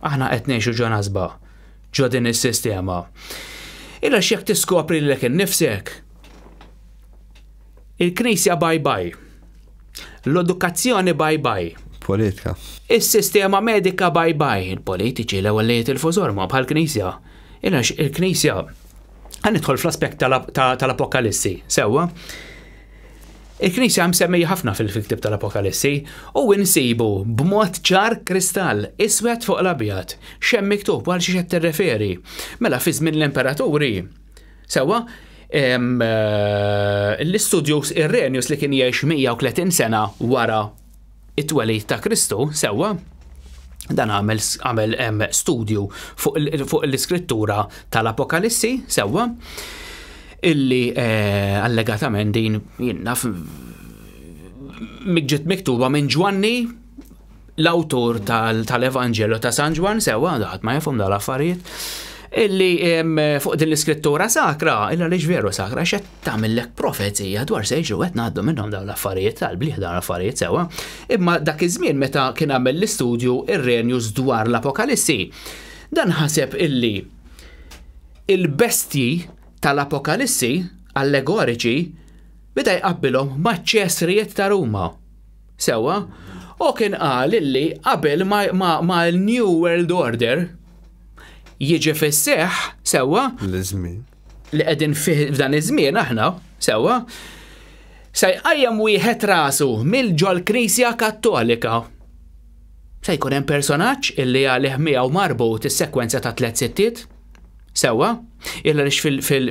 Aħna qed ngħixu ġo nasba, ġo din is-sistema. Illa x'jekk tiskopri lilek innifsek, il-Knisja bye bye, l-edukazzjoni bye bye, politika. Is-sistema medika bye bye, il-politiċi l-ewwel li jitilfu żorma bħal-Knisja. Ilax il-Knisja għan nidħol fl-aspett tal-Apokalissi, sewwa. Il-Knisja msemmija ħafna fil-ktieb tal-Apokalissi u insibu b'mod ċar kristall iswed fuq l-abjad x'hemm miktub għal xi qed tirreferi. Mela fi żmien l-imperaturi sewwa eh, l-istudjus Irrenius li kien jgħix 130 sena wara it-twelid ta' Kristu, sewwa, dan għamel, għamel studju fuq, fuq l-iskrittura tal-Apokalissi, sewwa, illi eh, allegatament din jinnaf ġiet miktuba minn Ġwanni l-awtur tal-Evanġelu ta' San Ġwan sewa daħat ma jafhom dal-affarijiet illi fuq din l-iskrittura sakra, illa li veru sakra, xed tagħmillek profezija dwar se jiġu qed ngħaddu minnhom dawn l-affarijiet tal-bliħ dawn l-affarijiet sewwa. Imma dak iż-żmien meta kien għamel l-istudju Irrenius dwar l-Apokalissi, dan ħaseb illi il-bestji tal-Apokalissi allegoriċi beda jqabbilhom maċ-ċesrijiet ta' Ruma. Sewwa, u kien qal illi qabel ma' l-New World Order jiġi fis-seħħ sewwa. L-iżmin. li qegħdin fih f'dan iż-żmien aħna, sewwa, se jqajjem wieħed rasu mill-ġol Knisja Kattolika. Se jkun hemm personaġġ illi għalih miegħu marbut is-sekwenza ta' tliet sittiet. Sewwa, illa lix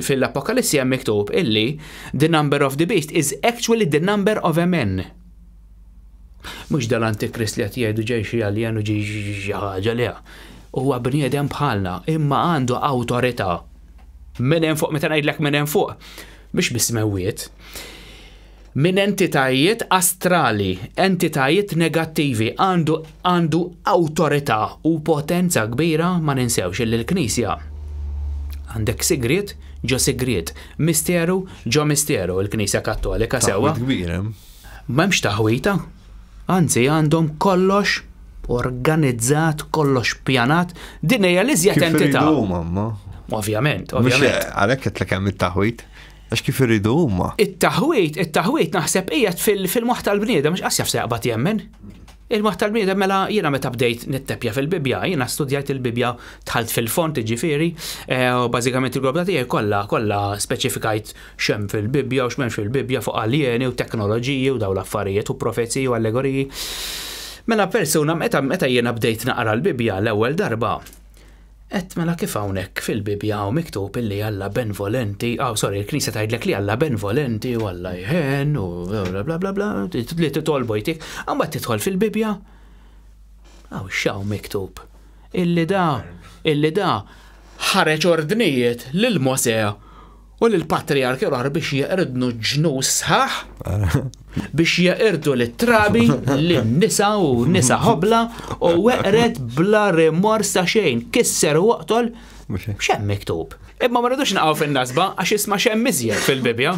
fil-Apokalissi hemm miktub illi the number of the beast is actually the number of a man. Mhux dal-antikrist li qed jgħidu ġej xi alien u ġej xi ħaġa le. Huwa bniedem bħalna, imma għandu awtorità. Minn hemm fuq, meta ngħidlek minn hemm fuq, mhux bis-smewwiet. Minn entitajiet astrali, entitajiet negattivi, għandu għandu awtorità u potenza kbira ma ninsewx li l-Knisja għandek sigriet ġo sigriet, misteru ġo misteru l-Knisja Kattolika sewwa. M'hemmx taħwita, anzi għandhom kollox organizzat, kollox pjanat, din hija l-iżjed entità. Kif iridu huma, ma? Ovvjament, ovvjament. Għalhekk qed l hemm it-taħwit. Għax kif irridu huma. It-taħwit, it-taħwit naħseb hija fil-moħħ tal-bniedem mhux qas jaf se jaqbad jemmen. Il-moħħ tal-bniedem mela jiena meta bdejt nittepja fil-Bibja, jiena studjajt il-Bibja tħalt fil-font ġifieri, eh, u bażikament il-grobda tiegħi kollha kollha speċifikajt x'hemm fil-Bibbja u x'm'hemmx fil-Bibbja fuq aljeni u teknoloġiji u dawn l-affarijiet u profeziji u allegoriji. Mela persuna meta meta jiena bdejt naqra l-Bibbja l-ewwel darba Et mela kif hawnhekk fil-Bibbja hawn miktub illi Alla benvolenti, aw sorry, il-Knisja tgħidlek li Alla benvolenti u Alla jħen u bla bla bla bla li titolbu jtik, imbagħad tidħol fil-Bibbja. Aw x'hawn miktub. Illi da, illi da ħareġ ordnijiet lil Mosè U lill-patrijarki l-oħra biex jeqridnu ġnus sħaħ, biex jeqirdu lit-trabi, lin-nisa u nisa ħobla, u weqret bla rimors ta' xejn, kisser u oqtol, xem miktub. Imma ma rridux naqgħu fin-nasba għax isma' xem miżjed fil-Bibja.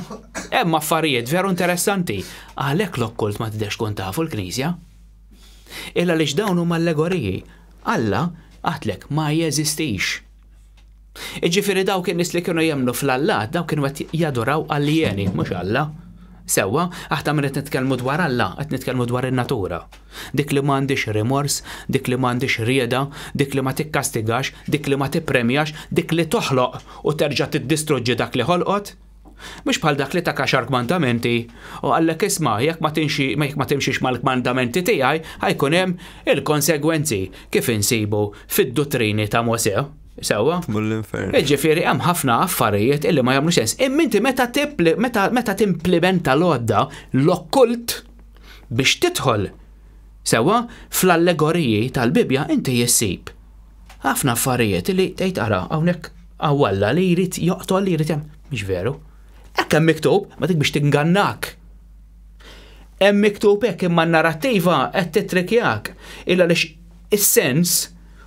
Hemm affarijiet veru interessanti. Għalhekk l-okkult ma tidex tkun tafu l-Knisja. Illa li dawn huma allegoriji. Alla għatlek ma jeżistix. Iġifiri dawk in-nies li kienu jemnu fl-Alla, dawk kienu qed jaduraw aljeni, mhux Alla. Sewwa, aħna minn qed nitkellmu dwar Alla, qed nitkellmu dwar in-natura. Dik li m'għandix rimors, dik li m'għandix rieda, dik li ma tikkastigax, dik li ma tippremjax, dik li toħloq u terġa' tiddistruġġi dak li ħolqot, Mhux bħal dak li ta kaxar kmandamenti, u qallek isma' jekk ma tinxi jekk ma timxix mal-kmandamenti tiegħi ħajkun hemm il-konsegwenzi kif insibu fid-duttrini ta' Mosè. Sewwa? Jiġifieri hemm ħafna affarijiet illi ma jagħmlu sens. Imma inti meta meta meta timplimenta l-għodda l-okkult biex tidħol sewwa fl-allegoriji tal-Bibbja inti issib Ħafna affarijiet li tgħid ara hawnhekk hawn Alla li jrid joqtol li jrid hemm. Mhix veru. Hekk hemm miktub, ma dik biex tingannak. Hemm miktub hekk imma n-narrattiva qed titrikjak illa lix is-sens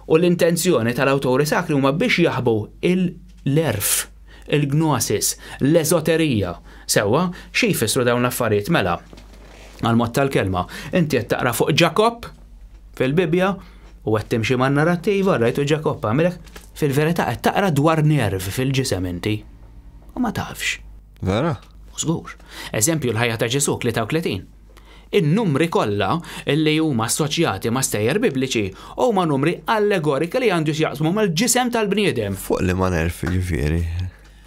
u l-intenzjoni tal-awturi sakri huma biex jaħbu l-għerf, il-gnosis, l-eżoterija. Sewwa, xi jfissru dawn l-affarijiet mela? Għall-mod tal-kelma, inti qed taqra fuq Ġakobb fil-Bibbja, U qed timxi man-narrattiva, rajtu Ġakobb għamilek, fil-verità qed taqra dwar nerv fil-ġisem inti. U ma tafx. Vera? U żgur. Eżempju l-ħajja ta' Ġesù 33. In-numri kollha li huma assoċjati ma' stejjer Bibliċi huma numri allegoriki li għandu x'jaqsmu mal-ġisem tal-bniedem. Fuq liema nerv jiġifieri?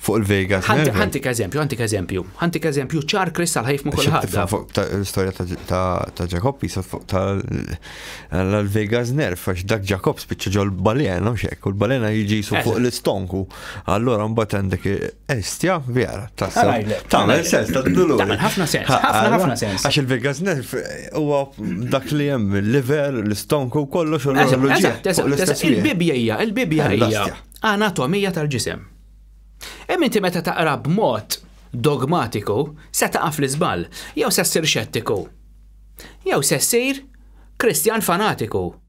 Fuq il-Vegas. Ħantik eżempju, ħantik eżempju, ħantik eżempju ċar kristal ħajf ma' kulħadd. Fuq l-istorja ta' Jacob jisod fuq tal-Vegas nerf, għax dak Jacob spiċċa ġol balena u xek, u l-balena jiġi jisu fuq l-istonku. Allora mbagħad għandek estja vera ta' tagħmel sens ta' dulu. Ħafna sens, ħafna ħafna sens. Għax il-Vegas nerf huwa dak li hemm il-liver, l-istonku kollox u l-ġieħ. Il-bibja hija, il-bibja hija anatomija tal-ġisem. Hemm inti meta taqra b'mod dogmatiku se taqa' fl-iżball, jew se ssir xettiku, jew se ssir Kristjan fanatiku.